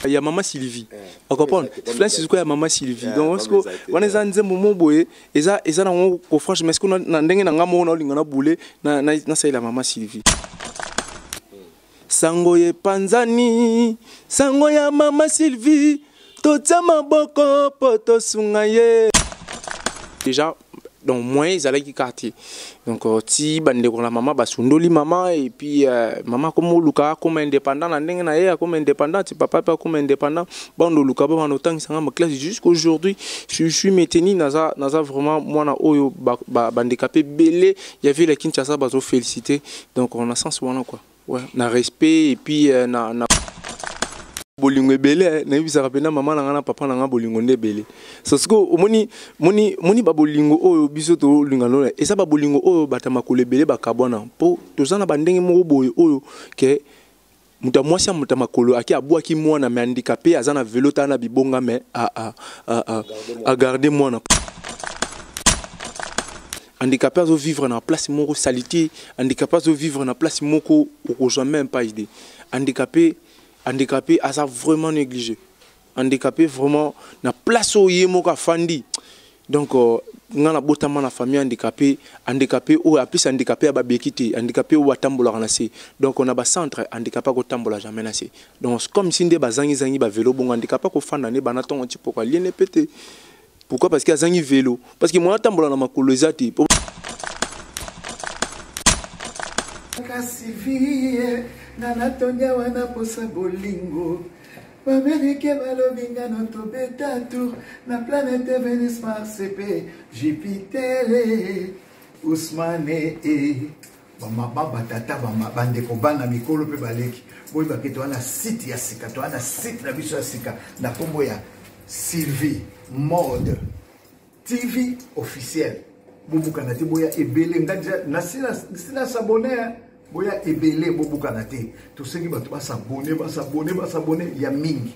ya mama sylvie eh, ocomprendre cela sikoyo ya mama sylvie eh, donc siko wana eza nzembo mo boye eza eza nango kofranche mais siko na ndenge na ngai moko naolinga na boule nasalela mama sylvie sango epanzani sango ya mama sylvie totya maboko mpo tosunga ye déjà donc moyen ezalaki kaka te donc euh, ti bandeko na mama basundoli mama et puis euh, mama akoma oluka akoma indépendant na ndenge na ye akoma indépendant ti papa mpe akoma indépendant bando oluka ba bando otangisa nga baklasse jusqu'aujourd'hui je suis maintenu naza, naza vraiment mwana oyo bandeka mpe ebele ya ville ya kinshasa bazofélicité donc na sens wana quoi Ouais, na respect et puis euh, na, na bolingo ebele eh, nayebisaka mpena mama na ngai na papa na ngai bolingo nde ebele so sikoyo omoni moni moni babolingo oyo biso tolinga nona eza babolingo oyo bata makolo ebele bakabwana mpo toza na bandenge moko boye oyo ke moto ya mwasi ya moto ya makolo ake abwaki mwana me andikape aza na velo tala na bibonga me agarde mwana handicapé azo vivre na place moko salite handicapé azo vivre na place moko okozwa même pas idée handicapé handicapé aza vraiment négligé handicapé vraiment na place oyo ye moko afandi donc euh, nga nabotama na famille handicapé handicapé oyo apesi handicapé ya babeki te handicapé oyo atambolaka na se donc na bacentre handicapé akotambola jamais na se donc comme si nde bazangizangi bavelo bongo handicapé akofanda nde bana ntongo ntipoko alie ne pe te Pourquoi parce que azangi velo parce que mwana tambola na makolo eza te kasi vie nga natondi awa na posa bolingo bamerike balobi nga no tobeta tour na planete venus mars mpe jupiter usmane e bamaba batata bama bandeko bana mikolo mpe baleki boyeba ke toa na site ya sika toa na site na biso ya sika na nkombo ya sylvie mode tv officiel bobukana te boya ebele nga deja nasila sabone boya ebele bobukana te tosengi bato basabone basabone basabone ya mingi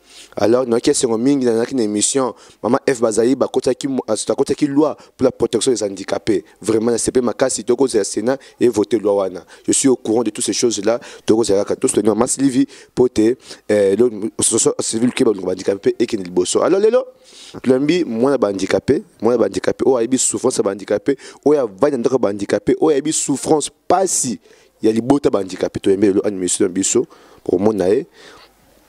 alors noyaki esengo mingi nazalaki na émission mama f bazali bakotaki akotaki loi pour la protection des handicapés vraiment nasepe makasi tokozala sénat et voter loi wana je suis au courant de toutes ces choses là tokozala kaka tosutani mama sylvie mpo te eh, sylvie luke balinga bahandicapé mpe ekende liboso alors lelo tolombi mwana bahandicapé mwana bahandicapé oyo ayebi souffrance ya bahandicapé oyo avandi na ndako ya bahandicapé oyo ayebi souffrance mpasi ya libota bahandicapé toyembi lelo animation na biso bokomona ye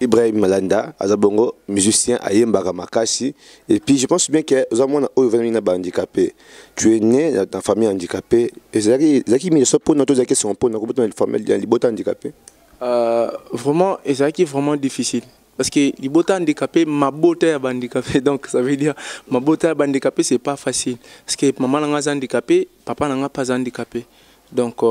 Ibrahim Malanda aza bongo musicien ayembaka makasi et puis je pense bien que oza mwana oyo vraiment na ba handicapé tu es né dans famille handicapé et zaki zaki mi so pona to zaki son pona ko bota na famille ya libota handicapé euh vraiment et zaki vraiment difficile parce que libota handicapé mabota ya ba handicapé donc ça veut dire mabota ya ba handicapé c'est pas facile parce que maman nga za handicapé Papa na nga pe aza handicape donc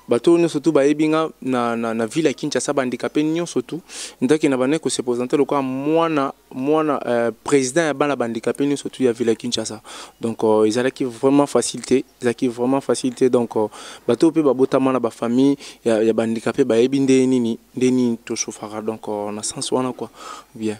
bato oyo nionso tout bayebi nga na, na, na ville ya Kinshasa ba handicape nionso tout ndaki na bana ko se presenter lokola mwana mwana euh, president ya bana ba handicape nionso tout ya ville ya Kinshasa donc euh, ezalaki vraiment facilité ezalaki vraiment facilité donc euh, bato pe babotama na ba famille ya, ya ba handicape bayebi nde nini nde nini to chauffaka donc euh, na sens wana quoi bien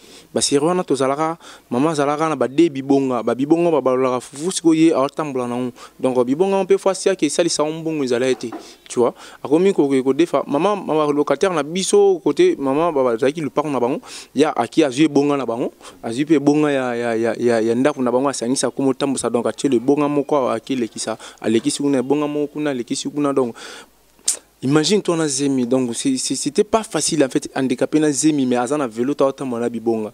ba seri wana tozalaka mama azalaka na bade bibonga babibonga babalolaka fufu sikoyo ye aotambola nango donc bibonga mpe fo asiaki esalisa yango mbongo ezalaki te tu vois akomi kodefa mama locataire na biso kote mama bazalaki lupango na bango ya aki azwi ebonga na bango azwi mpe ebonga ya, ya, ya, ya, ya ndako na bango asangisa kuma otambusa donc atielo ebonga moko awa akilekisa alekisi kuna ebonga moko kuna alekisi kuna donc Imagine toi na zemi donc c'était pas facile en fait handicapé na zemi mais aza na vélo ta otamba na bibonga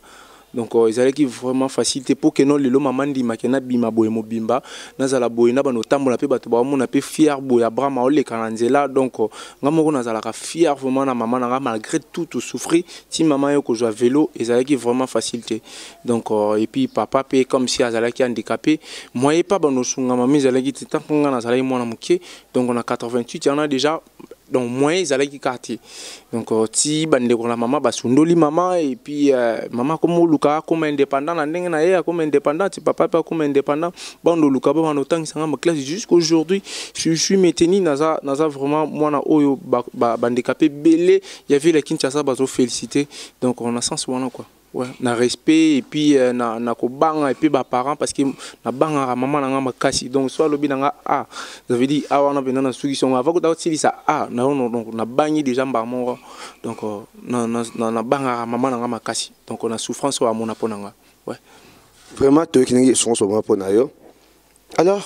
donc euh, ezalaki vraiment facilité mpo keno lelo mama ndimaki nabima boye mobimba nazala boye na bana otambola mpe bato baomona mpe fier boye abrahama oleka na nzela donc euh, nga moko nazalaka fier vraiment na mama na nga malgré tout tosouffri ti mama ye kozwa velo ezalaki vraiment facilité donc euh, et puis papa mpe comme si azalaki handicapé moye mpa banosunga mama ezalaki te ntango nga nazalaki mwana moke donc na 88 wana déjà donc moyen ezalaki kaka te donc euh, ti bandeko na mama basundoli mama et puis euh, mama akoma oluka akoma indépendant na ndenge na ye akoma indépendant ti papa mpe akoma indépendant bando oluka ba bando otangisa ngai baklasse jusqu'aujourd'hui je suis maintenu naza, naza vraiment mwana oyo bandeka mpe ebele ya ville ya kinshasa bazofélicité donc na sens wana quoi Ouais, na respect et puis euh, na, na kobanga et puis ba parents parce que na banga ka maman nanga makasi donc soit lobi nanga ah ça veut dire ah wana pena na suki songa avant kota tsili sa ah na non donc na bangi déjà mba moko donc euh, na na na, na banga ka maman nanga makasi donc na souffrance wa mona pona nga ouais vraiment toyoki ndenge esongo sobo mpo na yo alors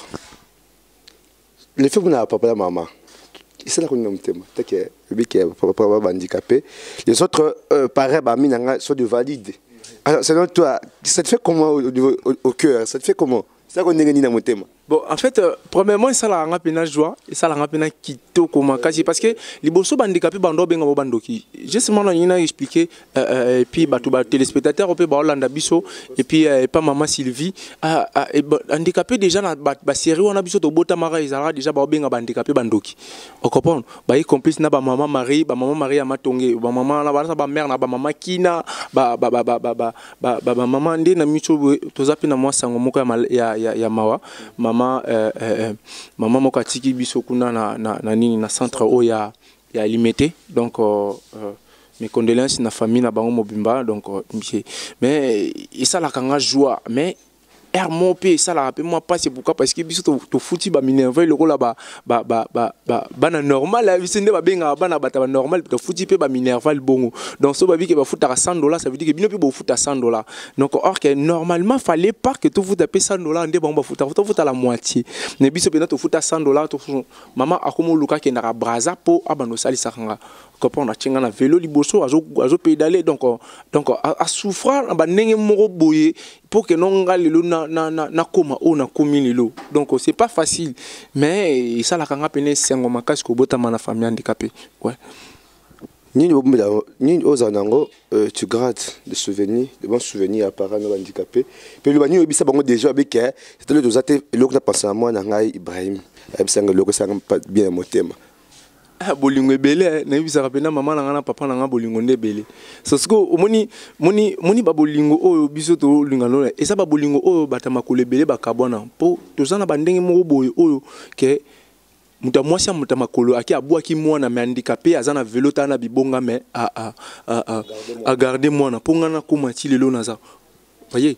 le fait na papa na mama esala koni na motema teke oyebi ke papa bahandicapé les autres euh, pareil bami na ngai sont de valide alors selon toi ça te fait comment au, au, au, au cœur ça te fait comment ça ko ndenge nini na motema bon en fait euh, premièrement esalaka nga mpena joie esalaka nga mpena kitoko makasi parce que liboso bandika mpe bando obenga bo bandoki justement nalingi na expliquer Euh, euh, et puis bato ba téléspectateur mpe baolanda biso et puis euh, epa mama sylvie ah, ah, handicapé déjà na basérie wana biso tobotamaka ezalaka déjà baobenga bahandicapé bandoki ocomprendre baye complice na bamama marie bamama marie ya matonge bamama wana baza bamare na bamama kina bamama nde na miso boye toza mpe na mwa sango moko ya mawa mama mama moko atiki biso kuna na nini na centre oyo ya limete donc mes condoléances na famille na bango mobimba donc euh, mais esalaka nga joie mais r mo mpe esalaka mpe mwa mpasi pourquoi parce que biso tofuti baminervai lokola bana normal ya biso nde babengaka bana bata banormal tofuti mpe baminerval bongo donc so babi ke bafutaka 100 dollar ça veut dire ke bino mpe bofuta 100 dollar donc or ke normalement fallait pas ke tofuta mpe 100 dollar nde bango bafutaka tofuta la moitié mais biso mpenza tofuta 100 dollar mama akomi oluka akendaka braza mpo abanda osalisaka nga comprendre atie ngai na velo liboso azopedale donc donc asouffra na bandenge moko boye mpo ke no ngai lelo nakoma oyo nakomi lelo donc c'est pas facile mais esalaka ngai mpena esengo makasi kobotama na famille handicapé ouais. nini bobombela yango nini oyo ozala na yango euh, tu grade de souvenir de bon souvenir ya parent na bahandicapé mpe loba nini oyebisa bango déjà abeke setele toza te eloko na pensa na mwana na ngai ibrahim ayebisa ngai eloko esanga bien ya motema Ah, bolingo ebele eh. nayebisaka mpe na mama na ngai na papa na ngai bolingo nde ebele so sikoyo omoni moni moni babolingo oyo biso tolinga lona eza babolingo oyo bata makolo ebele bakabwana mpo toza na bandenge moko boye oyo ke moto ya mwasi ya moto ya makolo ake abwaki mwana me andikape aza na velo tala na bibonga me agarde mwana mpo ngai nakoma ti lelo naza oye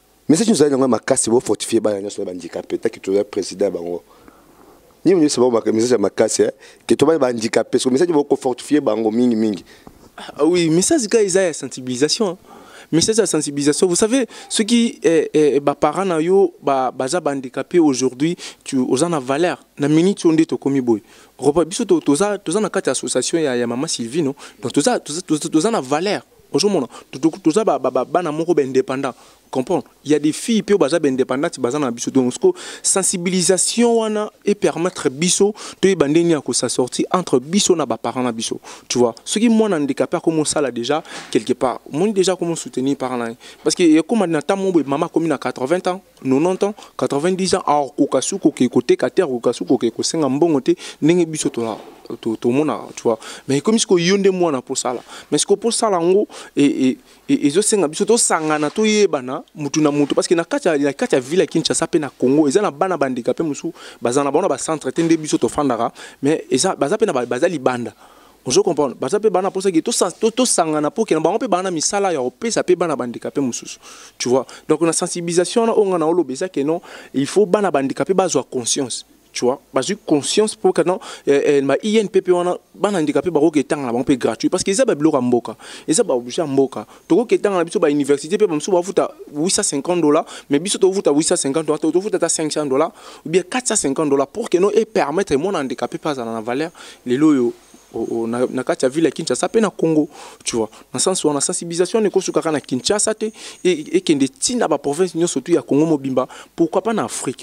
message nyonso ezali na yango ya makasi bofortifie bana nyonso na bandikape taki toza président ya bango nini nyonso bango message ya makasi eh? ke tobali bandikape so message bokofortifie bango mingi mingi ah, oui message kaka eza ya sensibilisation message ya sensibilisation vous savez soki eh, eh, baparent na yo baza ba bandikape aujourd'hui oza na valeur na minute oyo nde tokomi boye biso toza na kati ya association ya, ya mama sylvino donc toza, toza, toza, toza na valeur ozomona toza bana moko baindépendant comprendre il y a des filles mpe baza baindépendante baza na biso donc siko sensibilisation wana epermettre biso toyeba ndenge nini ya kosasorti entre biso na baparent na biso tu vois soki mwana handicapé akomosala déjà quelque part omoni déjà akomosoutenir parent na ye parce que ekoma na temps moko boye mama akomi na 80 ans 90 ans 90 ans akokoka suki okei koteka te akokoka suki okei kosenga mbongo te ndenge biso tola tomonaka tu vois mais ekomi sikoyo yo nde mwana mpo osala mais sikoyo mpo osala yango e, e, e, ezosenga biso tosangana toyebana motu na motu parce que na kati ya ville ya kinshasa mpe na congo eza na bana bandika mpe mosusu baza na bango na bacentre te nde biso tofandaka mais baza mpe baza libanda ozo comprendre baza mpe bana mposaki tosangana mpo kena bango mpe bana misala ya kopesa mpe bana bandikape mosusu tu vois donc na sensibilisation wana oyo ngai naoloba eza ke non il faut bana bandikape bazwa conscience tu vois bazwi conscience mpo kana eh, eh, ba inpp wana bana ndika mpe bakoki etanga na bango mpe gratuit parce que eza babiloko ya mboka eza baobjet ya mboka tokoki etangana biso ba université pe bamosusu bafuta 850 dollars mais biso tokofuta 850 dollars tokofuta ata 500 dollars ou bien 450 dollars pour que no e permettre mwana handicapé pe azala na valeur lelo oyo na, na kati ya ville ya kinshasa mpe na congo tu vois na sense wana sensibilisation wana ekosukaka na kinshasa te ekende e ntina baprovince nyonso tu ya congo mobimba pourquoi pas na afrique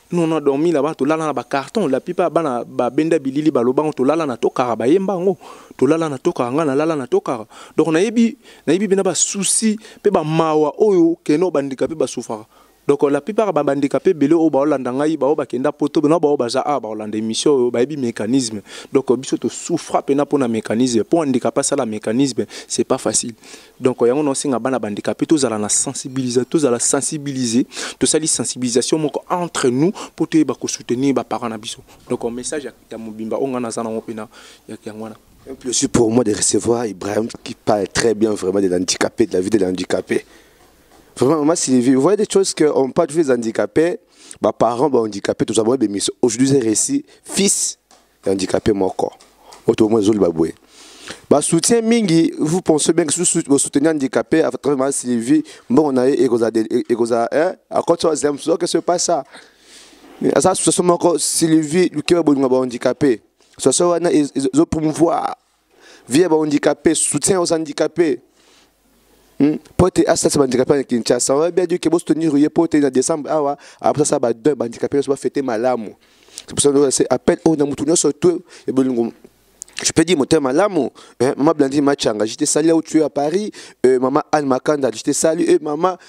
Nous on a dormi là-bas, tolala na ba carton, la plupart bana ba benda bilili ba lobango tolala na tokara ba yemba ngo, tolala na tokara nga na lala na tokara. Donc na yebi na yebi bena ba souci pe ba mawa oyo keno ba ndika pe ba soufara. Donc la plupart ba bandika pe bele oyo ba olanda ngai ba oba kenda poto bena ba oba za a ba olanda emission oyo ba yebi mécanisme. Donc biso to soufra pena pona mécanisme, po andika pa sala mécanisme c'est pas facile. donc yango naosenga bana bandikape tozala na sensibilisa tozala sensibilise tosali sensibilisation moko entre nous mpo toyeba kosoutenir baparent na biso donc message ya mobimba oyo ngai naza nango mpena yango wana Un plaisir pour moi de recevoir Ibrahim qui parle très bien vraiment de l'handicapé, de la vie de l'handicapé. Vraiment, maman Sylvie, vous voyez des choses qu'on parle toujours des handicapés, bah, parents bah, handicapés, tout ça, bon, aujourd'hui, j'ai réussi, fils, ya handicapé moko oyo tobomoi ezoliba boye basoutien mingi vous pensez bien que bosoutenir handicapé à travers ma sylvie mbongo na ye ekozala akoti azela mosusu oke ce pas ça aza association moko sylvie lukeba bolingo bahandicapé association wana ezopromouvoir vie ya bahandikape soutien aux handicapes hmm? mpo ete asalisa bandikape na kinshasa oyebi adi ke bosotenir ye mpo ete na décembre awa apesasa badon bandikape nyonso bafete malamu se appel oyo na motu nyonso to ya bolingo je peux dire motema malamu eh, mama blandine machanga je te sali au tu à paris euh, mama anne makanda je te sali e eh, mama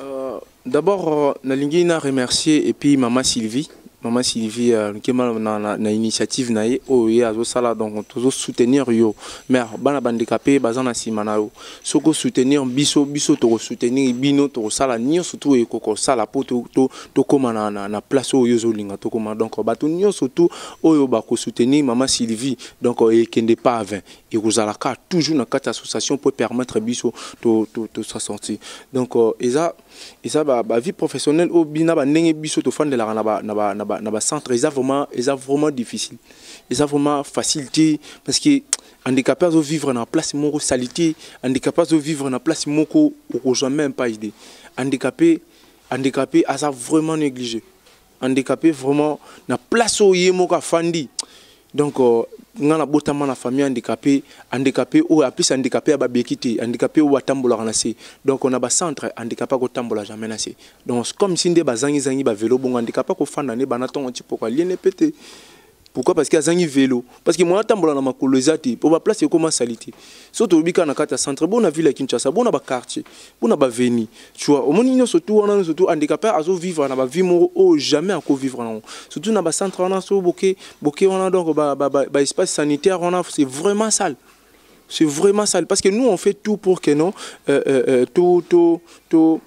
Euh, d'abord, euh, nalingi na remercier et puis Maman Sylvie. Maman Sylvie, euh, nkema na, na, na initiative na ye oyo ye azosala donc tozo soutenir yo mère bana bandika mpe baza na nsima na yo soki soutenir biso biso tokosoutenir bino tokosala nyonso tu oyo kokosala mpo tokóma na, na, na place oyo ozolinga tokóma donc bato nyonso tu oyo bakosoutenir mama sylvie donc ekende pave ekozala ka toujours na kati association pour permettre biso to to to sa sortie donc euh, eza eza ba, ba vie professionnelle au bina ba ndenge biso to fandelaka na ba na ba na ba, na ba centre eza vraiment eza vraiment difficile eza vraiment facile te parce que handicapé azo vivre na place moko salité handicapé azo vivre na place moko okozwa même pas idée handicapé handicapé aza vraiment négligé handicapé vraiment na place oyo ye moko afandi donc euh, nga nabotama na famille handicapé handicapé oyo apesi handicapé ya babeki te handicapé oyo atambolaka na se donc na bacentre handicapé akotambola jamais na se donc comme si nde bazangizangi bavelo bongo handicapé akofanda nde bana ntongo ntipoka liene pe te Pourquoi parce que azangi vélo parce que moyen atambola na makolo eza te po ba place ekoma salite so tolobi kaka na kati ya centre bona ville ya Kinshasa bona ba quartier bona ba veni tu vois omoni nyonso tu wana nyonso tu handicapé azo vivre na ba vie moko oyo jamais ako vivre nango surtout na ba centre wana so boke boke wana donc ba, ba, ba, ba espace sanitaire wana c'est vraiment sale c'est vraiment sale parce que nous on fait tout pour que non euh, euh, euh, tout tout tout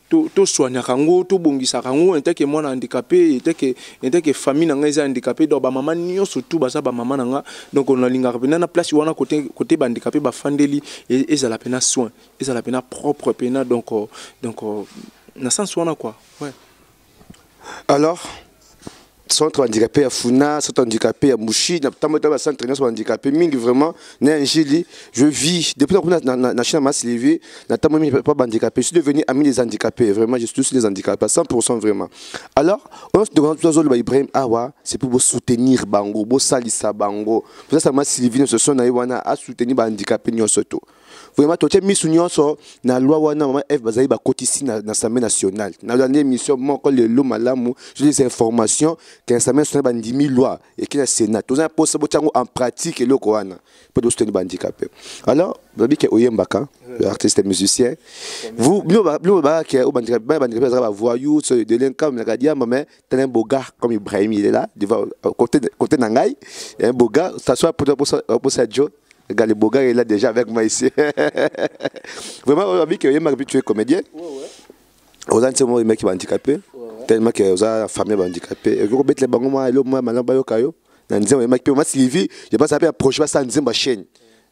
to to soignaka ngo to bongisaka ngo en tant que mwana handicapé en tant que en tant que famille na nga eza handicapé donc ba maman nionso tout baza ba maman na nga donc on alingaka pena na place wana côté côté ba handicapé ba fandeli e, ezala pena soin ezala pena propre pena donc euh, donc euh, na sens wana quoi ouais alors centre handicapé ya Funa, centre handicapé ya Mushi, na tambo taba centre nyonso handicapé mingi vraiment na Njili, je vis depuis que na na na Chine mas levé, na tambo mingi pas handicapé, je suis devenu ami des handicapés, vraiment je suis tous les handicapés à 100% vraiment. Alors, on se demande tous les Ibrahim Awa, c'est pour vous soutenir bango, bo salisa bango. Pour ça ça mas levé, ce sont na wana à soutenir ba handicapés nyonso tout. vraiment totie misu nyonso na loi wana mama eve bazali bakotisi na, na assemblée nationale nalandi émission moko lelo malamu sur les informations ke assemblée nationale bandimi loi eki na sénat toza na mposa botya yango en pratique eloko wana mpo tosuteni bandikape alors lobi ke oyembaka artiste musicien vous bino babaka ke obandika bana bandikape azalaka bavoyou so delinquant melaka diamba mais tala un beau gars comme ibrahim il est là devant côté na ngai un beau gars ça soit mposa jo Gali Boga est là déjà avec moi ici. Vraiment, on a vu que Yemar tu es comédien. Aux Antilles, moi, il m'a qui m'a handicapé. Tellement que aux a famille handicapé. Et qu'on bête les bangos, moi, l'homme, moi, malin, bayo, kayo. Na nzembo yemaki mpe masi livi ye basi ape approche basala nzembo ya chaîne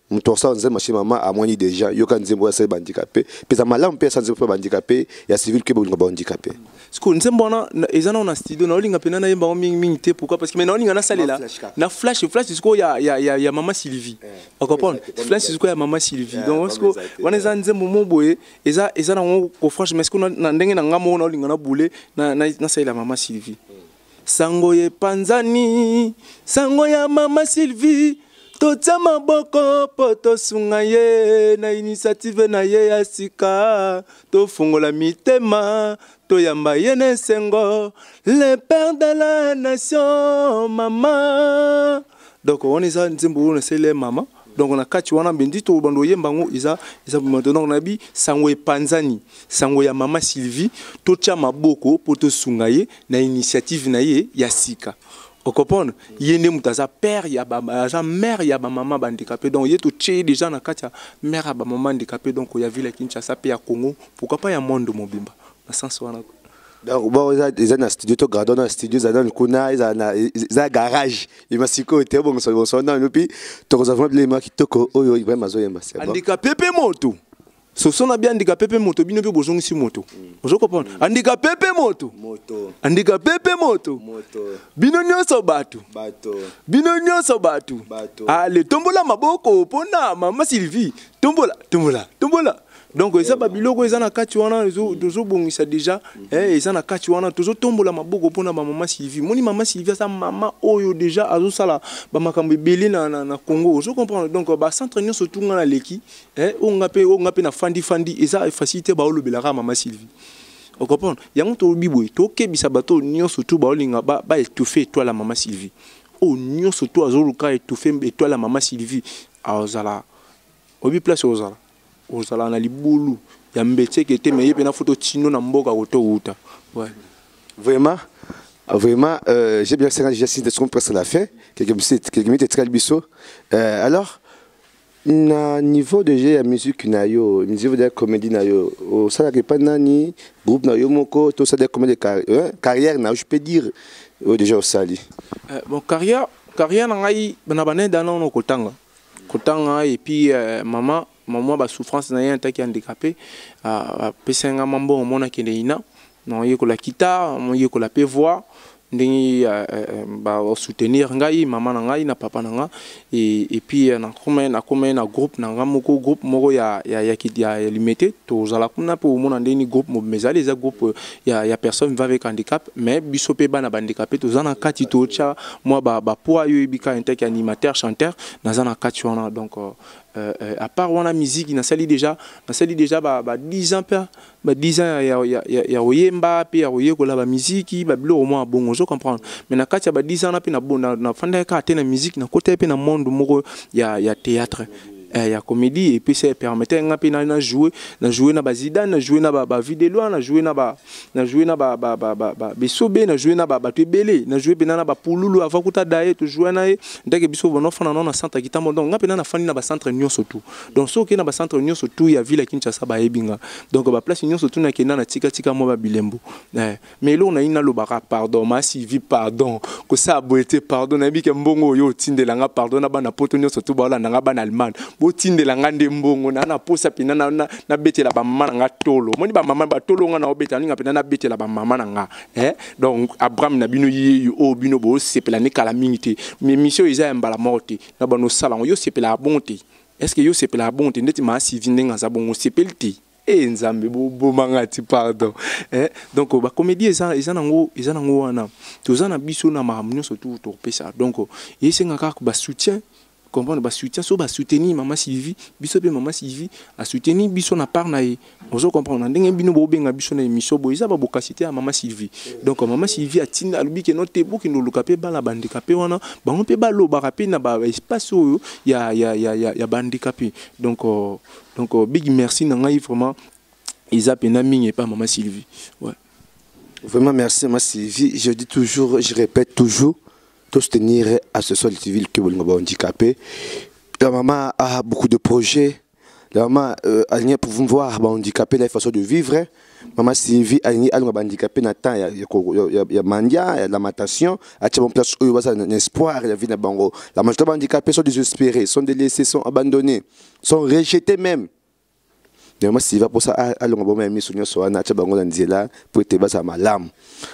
moto asala nzembo ya chaîne mama amoni déjà yoka nzembo oyo asali bahandikape mpe eza malamu mpe asala nzembo mpe bahandikape ya civile mpe bolingo bahandikape sikoyo nzembo wana eza nao na studio naolinga mpena nayemba yango mingimingi te pourquoi parce que mai naolinga nasalela na flash flash sikoyo ya, ya, ya, ya mama sylvie eh, ocomprendre flash sikoyo ya mama sylvie eh, donc sikoyo wana eza nzembo mo boye eza, eza nango kofranche mais sikoyo na ndenge na ngai moko naolinga na boule nasalela na, na mama sylvie mm. sango ye panzani sango ya mama sylvie totya maboko mpo tosunga ye na inisiative na ye ya sika tofungola mitema toyamba ye na esengo le père de la nation mama donc wana eza nzembo oyo naseli ye mama donc na kati wana mbe nzito obanda oyemba yango eza eza momento donc nayebi sango epanzani sango ya mama sylvie totya maboko mpo tosunga ye na initiative na ye ya sika okomprendre ye nde moto aza père ya aza mère ya bamama bandikape donc ye totye ye déjà na kati ya mère ya bamama handikape donc ya ville ya kinshasa mpe ya congo pourkoi pas ya monde mobimba na sens wana ko donc bon eza eza na studio to gardon na studio eza na kuna eza na eza garage ima sikoyo te obongisa bonso na lopi tokozwa vraiment bilema kitoko oyo ibrahim azoyemba c'est bon handicapé mpe moto soso na bia handicapé mpe moto bino mpe bozongisi moto mm. ozo comprendre handicapé mpe moto handicapé mpe moto bino nyonso bato bino nyonso bato ale tombola maboko mpo na mama sylvie tombola tombola tombola donc eza babiloko eza na kati wana mm. tozobongisa deja mm. eh, eza na kati wana tozotombola maboko mpona bamama sylvie moni mama sylvie aza mama oyo deja azosala bamakambo ebele na, na, na congo ozo comprendre donc bacentre nyonso tu nga naleki eh, oyo nga mpe oyo nga mpe na fandi fandi eza facilité baolobelaka mama sylvie okomprendre yango tolobi boye tokebisa bato nyonso tu baolinga baetouffe ba etoile ya mama sylvie oyo nyonso tu azoluka etouffe etoile ya mama sylvie azala oyebi place ozala ozala na libulu ya mbetseke te meye mpena foto tino na mboka koto wuta ouais. vraiment vraiment euh, j'ai bien 50 j'ai signé son presque la fin quelques minutes quelques minutes etikali biso euh, alors na niveau de jeu ya musique na yo niveau de comédie na yo osalaka epai nani groupe na yo moko to osala comédie euh, carrière na yo je peux dire oyo déjà osali euh, bon carrière carrière na ngai na banedana ono kotanga kotanga et puis euh, maman maman ba souffrance na ye en tant que handicapé apesi ah, ah, nga mwa mbongo mpo nakende ina nayekola kita moyekola mpe voix ndenge euh, euh, basoutenir ngai mama na ngai na papa na nga epuis nakomai nakomai na groupe na nga moko groupe moko ya, ya, ya, ya, ya limete tozala kuna mpe omona ndenge groupe mobima ezali eza groupe ya, ya personne va avec handicap mais biso pe bana bandikape toza na kati totia mwa ba, ba poids yo yebi ka intaki animateur chanteur naza na kati wana donc euh, euh, euh à part wana miziki nasali déjà nasali déjà ba, ba 10 ans mpe ba 10 ans ya, ya, ya, ya, ya koyemba mpe ya koyekola bamiziki babiloko mwa bongo ozo comprendre mais na kati ya ba 10 ans na mpe nafandaki kaka te na miziki nakotaki mpe na monde moko ya, ya théâtre eh, ya comédie epesi epermete nga mpe na joue na joue na bazidane na joue na bavideloire na joue na ba na joue na besobe na joue na bato ebele na joue mpena na bapululu ava kuta daye tojoue na ye ndeke biso bana ofanda nao na centre kitambo donc nga mpena nafandi na bacentre nyonso tu donc soki okei na bacentre nyonso tu ya ville ya kinshasa bayebi nga donc baplace nyonso tu nakenda na tikatika mwa babilembo eh. mais eloko nalingi nalobaka pardon ma sivi pardon kosala boye te pardon nayebi ke mbongo oyo otindela nga pardon na bana poto nyonso tu baolanda nga bana allemagne botindela nga nde mbongo na na posa mpena nabetela na bamama na nga tolo omoni bamama batolo nga naobeta nalinga mpena nabetela bamama na nga eh? donc abraham na bino yeyi oyo bino bosepela nde kala mingi te mais mission eza ya mbala moko te na bana osala yango yo osepelaka bongo te est ce que yo osepelaka bongo te ndeti ma sivi ndenge aza bongo osepeli te e eh, nzambe boboma nga ti pardon eh, donc bacomédie eza eza nango eza nango wana toza na biso na makambo nyonso tu topesa donc esenga kaka basoutien comprendre basoutien so basoutenir mama sylvie biso mpe mama sylvie asoutenir biso na part na ye ozo comprendre na ndenge bino bobenga biso na émission boye eza babokasi te ya mama sylvie donc mama sylvie atinda alobi ke no te bokende oluka mpe bana bandika mpe wana bango mpe balobaka mpe na baespace oyo ya, ya, ya, ya, ya bandika mpe donc euh, donc euh, big merci na ngai vraiment eza pena mingi epa mama sylvie ouais. vraiment merci mama sylvie je dis toujours je répète toujours to soutenir à ce soit le civil que bolingo ba handicapé la maman a beaucoup de projets la maman euh, alingi pour voir ba handicapé la façon de vivre hein. mama sylvie alingi alonga bahandikape na temps ya, ya, ya, ya mandia ya lamentation atia bon place oyo bazala na espoir ya vie na bango la majorité bahandikape sont désespérés sont délaissés sont abandonnés sont rejetés même yango siva mposa alonga boma ya miso nyonso wana atya bango na nzela mpo ete bazala malamu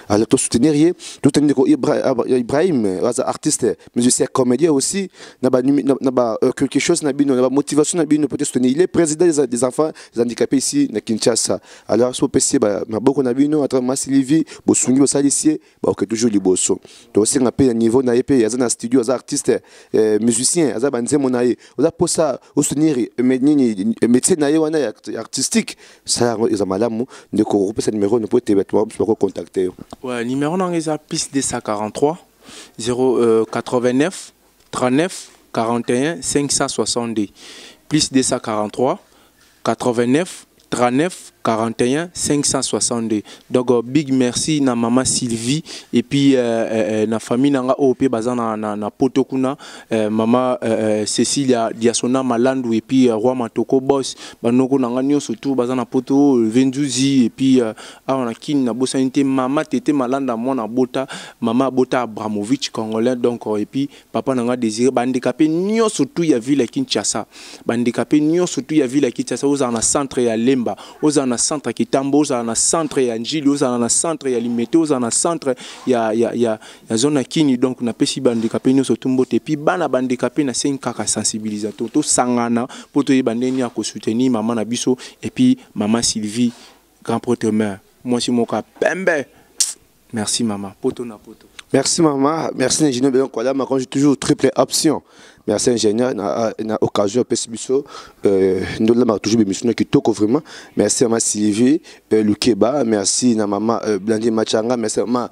alors tosoutenir ye totani ndeko ibrahim aza artiste musicien comédien aussi na ba euh, quelque chose na bino na bamotivation na bino mpo tosoutenir il est président des enfants des handicapés ici na kinshasa alors so opesi ye maboko na bino ata masi livi bosungi bosalisi ye baoke toujours liboso tokosenga mpe ya niveau na ye mpe aza na studio aza artiste eh, musicien aza banzembo na ye oza mposa osunir eh, nini eh, métier na ye wana ya artistique sala yango eza malamu ndeko okopesa numero no mpo ete bato bamosusu bakocontacte yo ouais, numero na yango eza plus 243 089 39 41 562 plus 243 89 39 41 562 donc euh, big merci na mama sylvie et puis euh, euh, euh na famille nanga oyo mpe baza na, na, na poto kuna euh, mama euh, cecilia diasona malandu et puis euh, roi matoko bos banoko nanga nyonso tour baza na poto oyo venduzi et puis euh, awa na kin na bosani te mama tete malanda mwana abota mama abota abramovich congolais donc euh, epuis papa na ngai désiré bandikape nyonso tu ya ville ya kinshasa bandikape nyonso tu ya ville ya kinshasa ozala na centre ya lemba ozala na centre ya kitamba ozala na centre ya njili ozala na centre ya limete ozala na centre ya, ya, ya, ya zone ya kini donc napesi bandikape nyonso tu mbote epuis bana bandikape nasengi kaka sensibilisateur tosangana mpo toyeba ndenge nini ya kosoutenir mama na biso epuis mama sylvie Grand Poto Mère, mwasi moko ya pembe. Merci maman, poto na poto. Merci maman, merci ingénieur Béon Kwadama, quand j'ai toujours triple option. Merci ingénieur, na, na occasion pesi biso euh ndola ma toujours bimisuna kitoko vraiment. Merci à ma Sylvie euh, Lukeba, merci na maman euh, Blandine Machanga, merci à ma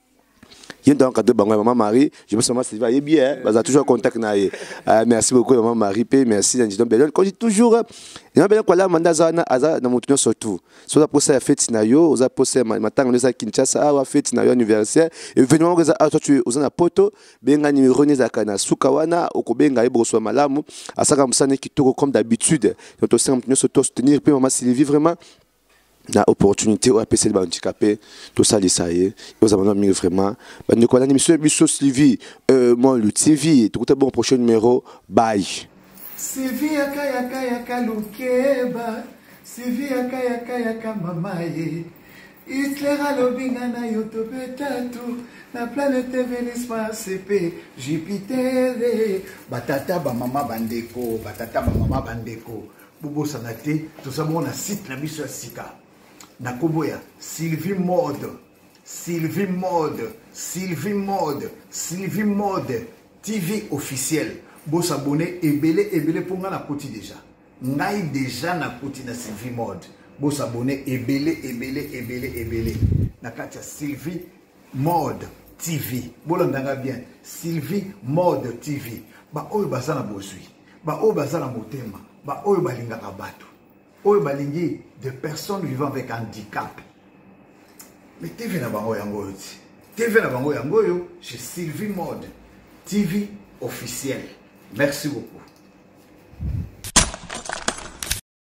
ye nde ankadre bango ya mama marie je pense mama sylvie ayebi ye bazala toujours contact na ye euh, merci beaucoup ya mama marie mpe merci na njido mbelon koji toujours yango mbelon koala manda aza wana aza na moto nyonso tout so oza mposa ya feti na yo oza mposa ya matanga nyonso ya kinshasa awa feti na yo anniversaire événement moko eza awa toi oza na poto benga nimero ni ezalaka na suka wana okobenga ye bokosola malamu asaka mosala ne kitoko comme d'habitude donc tosenga moto nyonso to soutenir mpe mama sylvie vraiment na opportunité oyo apeseli bahandikape tosalisa ye oza bana mingi vraiment bandeko balandi miso ya biso sylvie euh, molu tv tokuta bon prochain numéro bay sylvie yakayakayaka lukeba sylvie yakayakayaka mama ye hitler alobi nga na yo tobetatu na planete venus mars mpe jupiter batata bamama bandeko batata bamama bandeko bobosana te toza bongo na site na biso ya sika na nkombo ya sylvie mode sylvie mode sylvie mode sylvie mode tv officiel bosabone ebele ebele mpo ngai nakoti deja ngai deja nakoti na sylvie mode bosabone ebele ebele ebele ebele na kati ya sylvie mode tv bolanda ngai bien sylvie mode tv baoyo baza na bozwi baoyo baza na motema baoyo balingaka bato oyo balingi de personnes vivant avec handicap mais tv na bango yango oyo ti tv na bango yango oyo chez sylvie mode tv officiel merci beaucoup